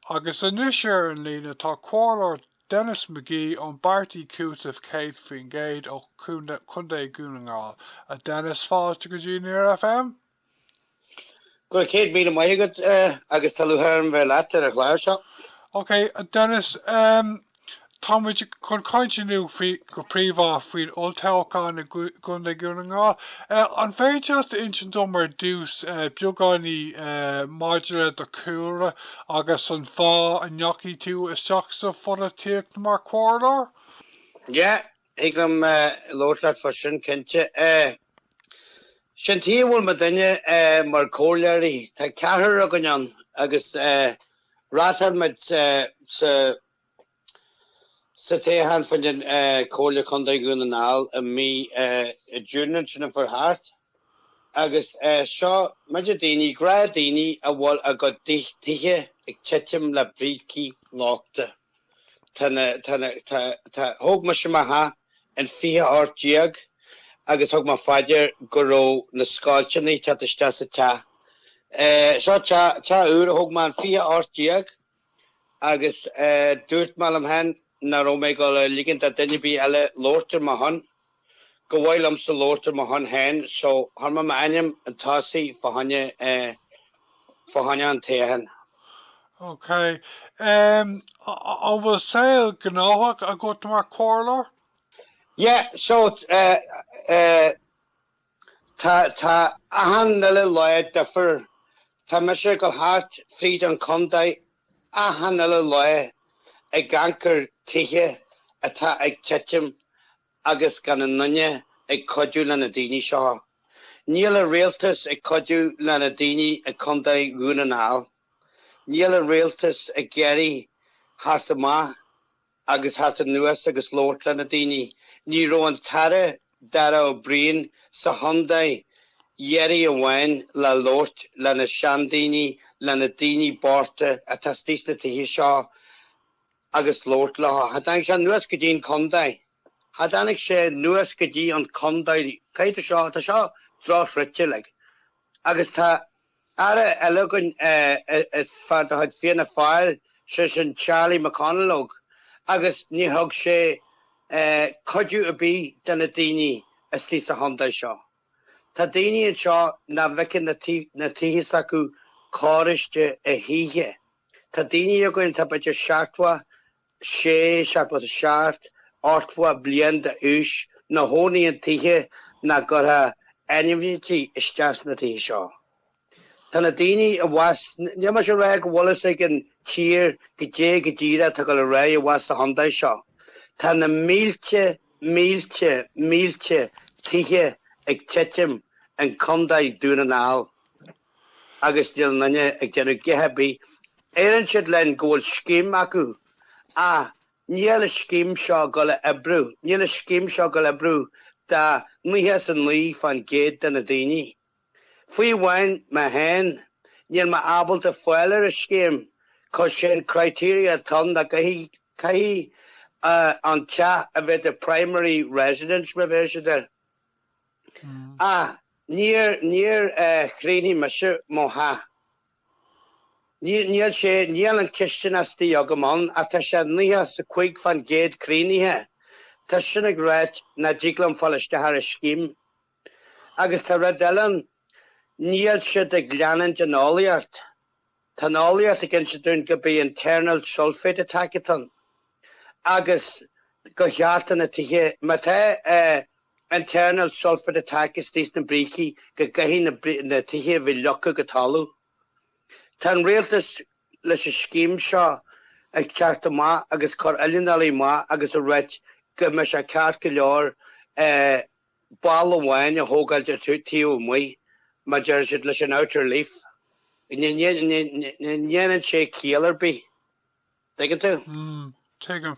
Agus anois ar an líne tá Comhairleoir Denis McGee ón bPáirtí Cúiteamh 100% ó Chontae Dhún na nGall. A Denis, fáilte go dtí Near FM. Go raibh céad míle maith agat agus tá lúcháir orm bheith leat ar an chlár seo. Ok, a Denis, Tá muid chun caint inniu go príomha faoin olltoghchán i gContae Dhún na nGall. An féidir leat insint dom ar dtús beagáinín maidir le do chúlra agus an fáth a ndeachaigh tú isteach sa pholaitíocht mar chomhairleoir? Yeah, Thig liom labhairt leat fá sin, cinnte. Sin tuige a bhfuil muidinne mar comhairleoirí. Tá ceathrar againn ann agus reáchtáil muid sa, sa toghchán fá dtaobh den Chomhairle Contae Dhún na nGall i mí June ansin a chuaigh thart. Agus seo muide daoine, gnáthdhaoine a bhfuil a gcuid tithe ag titim le brící lochtacha. Tá na, tá na, tá, tá, thóg mise mo theach in fiche hocht déag agus thug mé fá dear go raibh na scoilteanna ag teacht isteach sa teach. Seo teach, teach úr a thóg mé in fiche hocht déag. Agus dúirt mé liom féin nach raibh mé ag dul a ligint do duine ar bith eile labhairt ar mo shon. Gurbh fhearr liomsa labhairt ar mo shon féin. So, chuir mé m'ainm chun tosaigh fá choinne, fá choinne an toghcháin. OK. An bhfuil saol gnóthach agat mar chomhairleoir? Yeah, so, eh, eh. Tá, tá achan uile lá difir. Tá mise go thart fríd an chondae achan uile lá ag amharc ar tithe atá ag titim agus gan aon duine ag cuidiú le na daoine seo. Níl an rialtas ag cuidiú le na daoine i gCondae Dhún na nGall. Níl an rialtas ag iarraidh theacht amach. agus theacht anuas agus labhairt le na daoine. Ní raibh an tAire Darragh O'Brien sa chondae iarraidh amháin le labhairt le na seandaoine, le na daoine bochta atá istigh sna tithe seo agus labhairt leo. Cha dtáinig sé anuas go dtí an condae. Cha dtáinig sé anuas go dtí an condae. Caidé atá seo, tá seo drochfhruite like agus tá. Aire eile againn is fear de chuid Fianna Fáil, sé sin Charlie McConalogue, agus ní thug sé cuidiú ar bith do na daoine istigh sa chontae seo. Tá daoine anseo nach bhfeiceann na tithe s'acu cóiriste a choíche. Tá daoine againn atá b'fhéidir seachtó 6 seachtó is a seacht, ochtó bliain d'aois, ina chónaí in tithe nach gcuirfeá ainmhithe isteach sna tithe seo. Tá na daoine abhus, níl mise ag rá go bhfuil a fhios ag an tír cad é go díreach atá ag dul ar aghaidh abhus sa chontae seo. Tá na mílte, mílte, mílte tithe ag titim in Contae Dhún na nGall. agus níl aon duine ag déanamh a dhath ar bith. Deireann siad linn go bhfuil scéim acu ach níl an scéim seo ag dul a oibriú. Níl an scéim seo ag dul a oibriú do nócha is a naoi fán gcéad de na daoine. Fiú amháin mé féin, níl mé ábalta fáil ar an scéim 'cause an criteria atá ann ná caithfidh, caithfidh an teach a bheith do primary residence mar a bheir siad air. Ach níor níor chríochnaigh mise mo theach. Níl níl sé níl an chistin istigh agam ann ach tá sé 95 fán gcéad críochnaithe. Tá sin ag ráit nach dtig liom fáil isteach ar an scéim. Agus tá rud eile ann, níl siad ag leanúint den eolaíocht. Tá an eolaíocht ag inse dúinn gurb é internal sulfate attack atá ann agus go gcaithfidh na tithe. Má tá internal sulfate attack istigh sna brící go gcaithfidh na tithe a bheith leagtha go talamh. Tá an rialtas leis an scéim seo ag teacht amach agus cur oileánaigh amach agus ag ráit go mbeidh sé ceart go leor balla amháin a thógáil de taobh amuigh, mar a deir siad, leis an outer leaf. Ní dhéanann sé ciall ar bith, dtuigeann tú? Tuigim.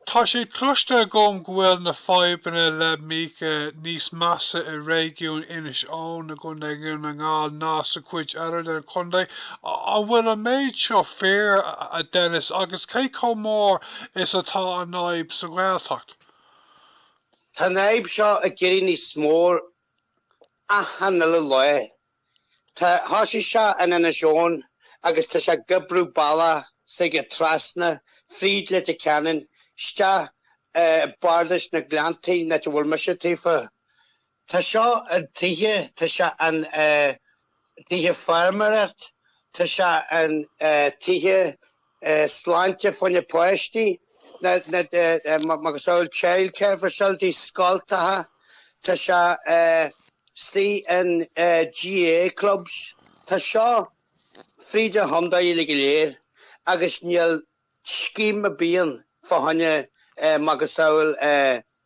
Tá sé cloiste agam go bhfuil na fadhbanna le míoca níos measa i réigiún Inis Eoghain i gContae Dhún na nGall ná sa chuid eile den chontae. An bhfuil an méid seo fíor, a Dennis, agus cé chomh mór is atá an fhadhb sa Ghaeltacht? Tá an fhadhb seo ag éirí níos mór achan uile lá. Tá thosaigh seo in Inis Eoghain agus tá sé ag oibriú an bealach s'aige trasna, fríd Leitir Ceanainn, isteach i Bardas na nGleanntaí, an áit a bhfuil mise tofa. Tá seo in tithe, tá sé in tithe feirmeoireacht, tá sé in tithe sláinte fá choinne páistí, macasamhail childcare facilities, scoltacha, tá sé istigh in GAA clubs. Tá seo fríd an chontae uilig go léir agus níl scéim ar bith ann fá choinne macasamhail,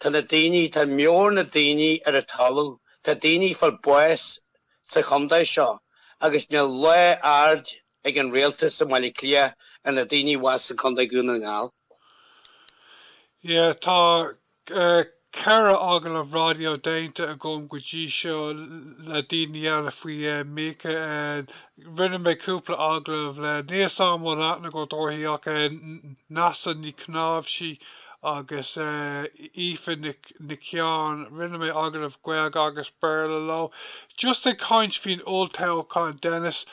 Tá na daoine, tá meabhair na daoine ar an talamh. Tá daoine ag fáil bháis sa chondae seo agus níl lá aird ag an Rialtas i mBaile Átha Cliath ar na daoine abhus sa Chondae Dhún na nGall. Yeah, tá ceithre agallamh raidió déanta agam go dtí seo le daoine eile faoi mhíoca. Rinne mé cúpla agallamh le níl a fhios agam an bhfuil aithne agat uirthi ach Neasa Ní Chnáimhsí agus Aoife Nic Sheáin, rinne mé agallamh Gaeilge agus Béarla leo. Just ag caint faoin olltoghchán Dennis,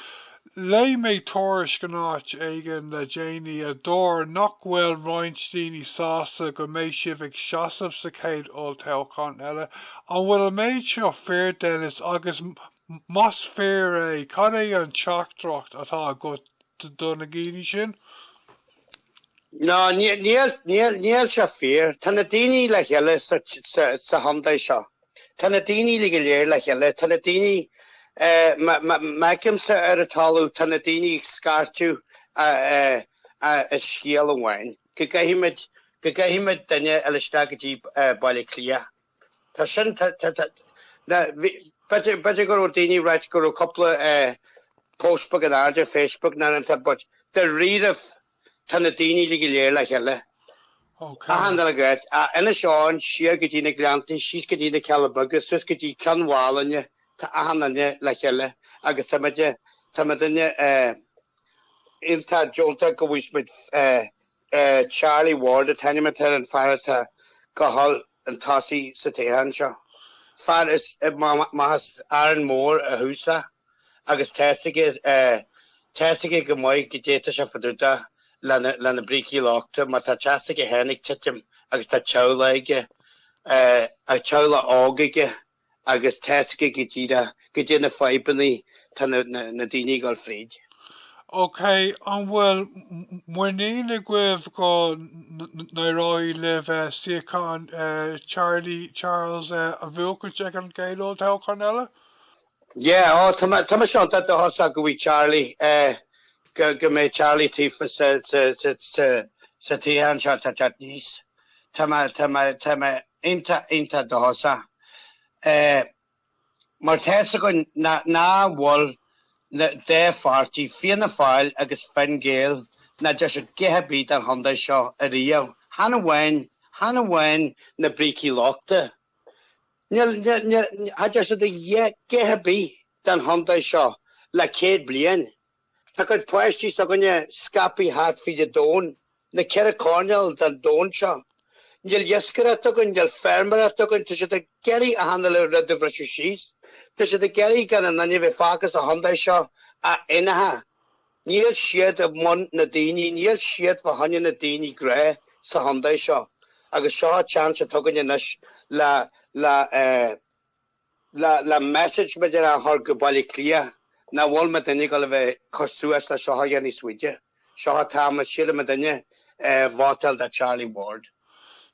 léigh mé tuairisc in áit éigin le déanaí a dúirt nach bhfuil roinnt daoine sásta go mbeidh sibh ag seasamh sa chéad olltoghchán eile. An bhfuil an méid seo fíor Dennis agus Más fíor é, cad é an teachtaireacht atá agat do na daoine sin? No, níl sé fíor. Tá na daoine le chéile sa chontae seo. Tá na daoine le go léir le chéile. Tá na daoine, mar a fheicimse ar an talamh, tá na daoine ag scairteadh an scéal amháin, go gcaithfimid duine eile isteach go dtí Baile Átha Cliath. Tá sin, tá, tá, tá. Na, bhí, b'fhéidir, b'fhéidir go raibh daoine ag ráit go raibh cúpla eh, post beag in airde ar Facebook nó rud inteacht but dáiríribh tá na daoine le go léir le chéile. Ok. Achan duine agat, ó Inis Eoghain, siar go dtí na Gleanntaí, síos go dtí na Cealla Beaga, suas go dtí Cionn Mhálanna, tá achan duine le chéile agus tá muid, tá muidinne eh, iontach deonta go bhfuil muid eh, é Charlie Ward an t-ainm atá ar an fear atá ag gabháil chun tosaigh sa toghchán seo. Fear as amach as Árainn Mhór ó thús a agus tá's aige tá's aige go maith goidé atá sé fá dtaobh de le na brící lochtacha mar tá teach s'aige féin ag titim agus tá teaghlach aige a teaghlach óg aige. agus tá's aige go díreach goidé na fadhbanna atá na daoine ag dul fríd. Ok, an bhfuil muinín agaibh go n-éireoidh libh suíochán Charlie Charles a bhuachaint ag an gcéad olltoghchán eile? Yeah, oh, tá mise iontach dóchasach go bhfuil Charlie, go mbeidh Charlie tofa sa toghchán seo atá ag teacht aníos. Tá mé, tá mé, tá mé iontach, iontach dóchasach. Eh, mar tá fhios againn nach, nach bhfuil na dá pháirtí, Fianna Fáil agus Fine Gael, nach dtearn siad a dhath ar bith don chontae seo ariamh. Chan amháin, chan amháin na brící lochtacha. Níl, níl, níl, cha dtearn siad a dhath ar bith don chontae seo le céad bliain. Tá ár gcuid páistí s'againne scaipthe thart fríd an domhan, na ceithre coirnéal den domhan seo. Níl iascaireacht againn, níl feirmeoireacht againn, tá siad ag iarraidh achan uile rud a bhriseadh síos, tá siad ag iarraidh gan aon nduine bheith fágtha sa chondae seo a fhéineantha. Níl siad i mbun na daoine, níl siad fa choinne na daoine gnáth sa chondae seo agus seo an tseans atá againne anois le le eh. le le message láidir a chur go Baile Átha Cliath nach bhfuil muidinne ag dul a bheith ag cur suas le seo aige níos faide. So tá mé ag súil go mbeidh daoine ag vótáil do Charlie Ward.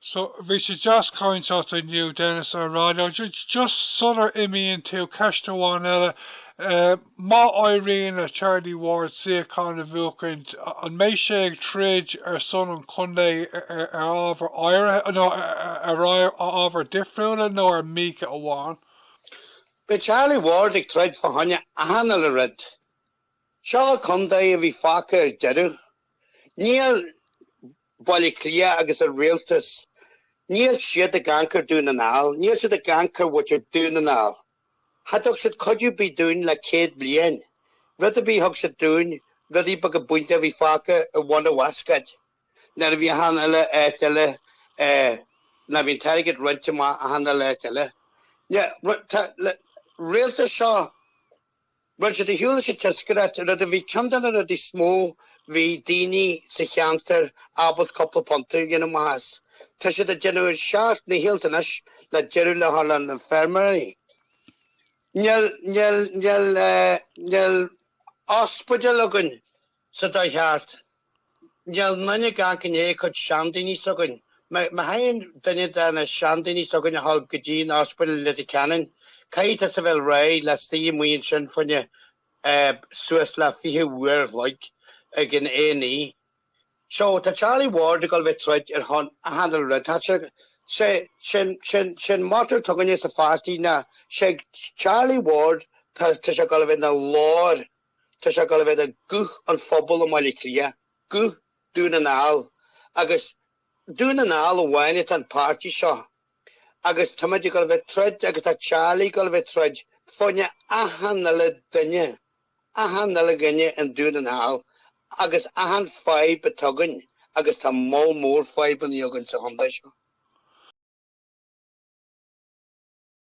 So, bhí sé deas caint leat inniu Dennis ar raidió, just sular imíonn tú, ceist amháin eile, eh, Má éiríonn le Charlie Ward suíochán a bhuachaint, an mbeidh sé ag troid ar son an chontae ar ábhair áirithe, nó ar ábhair difriúla, nó ar mica amháin? Beidh Charlie Ward ag troid fá choinne achan uile rud. Seo contae a bhí fágtha ar deireadh. Níl Baile Átha Cliath agus an rialtas, níl siad ag amharc ar Dún na nGall, níl siad ag amharc ar mhuintir Dún na nGall. Cha dtug siad cuidiú ar bith dúinn le céad bliain. Rud ar bith a thug siad dúinn, rudaí beaga bainte a bhí fágtha i mbun an bhascáid. Nuair a bhí achan uile áit eile, nuair a bhí an t-airgead roinnte amach achan uile áit eile. Tá an rialtas seo Bhuel, siad ar shiúl leis an iascaireacht, rud a bhí ceann de na rudaí is mó bhí daoine sa cheantar ábalta cúpla punt a dhéanamh amach as. Tá siad ag déanamh a seacht ndícheall anois le deireadh a chur leis na feirmeoirí. Níl, níl, níl, níl ospidéal againn sa dóigh cheart. Níl aon nduine ag amharc i ndiaidh cuid seandaoine s'againn. Má théann duine de na seandaoine s'againn ar shiúl go dtí an Ospidéal i Leitir Ceanainn, caithfidh tusa bheith réidh le suí amuigh ansin fá choinne suas le fiche uair a chloig ag an A&E. So, tá Charlie Ward ag dul bheith troid ar shon achan uile rud. Tá sé, sé, sé'n, sé'n, sé'n motto atá againne sa pháirtí ná, Sé Charlie Ward, tá, tá sé ag dul bheith 'na ghlór. Tá sé ag dul bheith 'na ghuth an phobail i mBaile Átha Cliath, guth Dhún na nGall. Agus Dún na nGall amháin atá an páirtí seo. Agus táimid ag dul bheith ag troid agus tá Charlie ag dul bheith ag troid fá choinne achan uile duine, achan uile dhuine in Dún na nGall agus achan fadhb atá againn agus tá moll mór fadhbannaí againn sa chontae seo.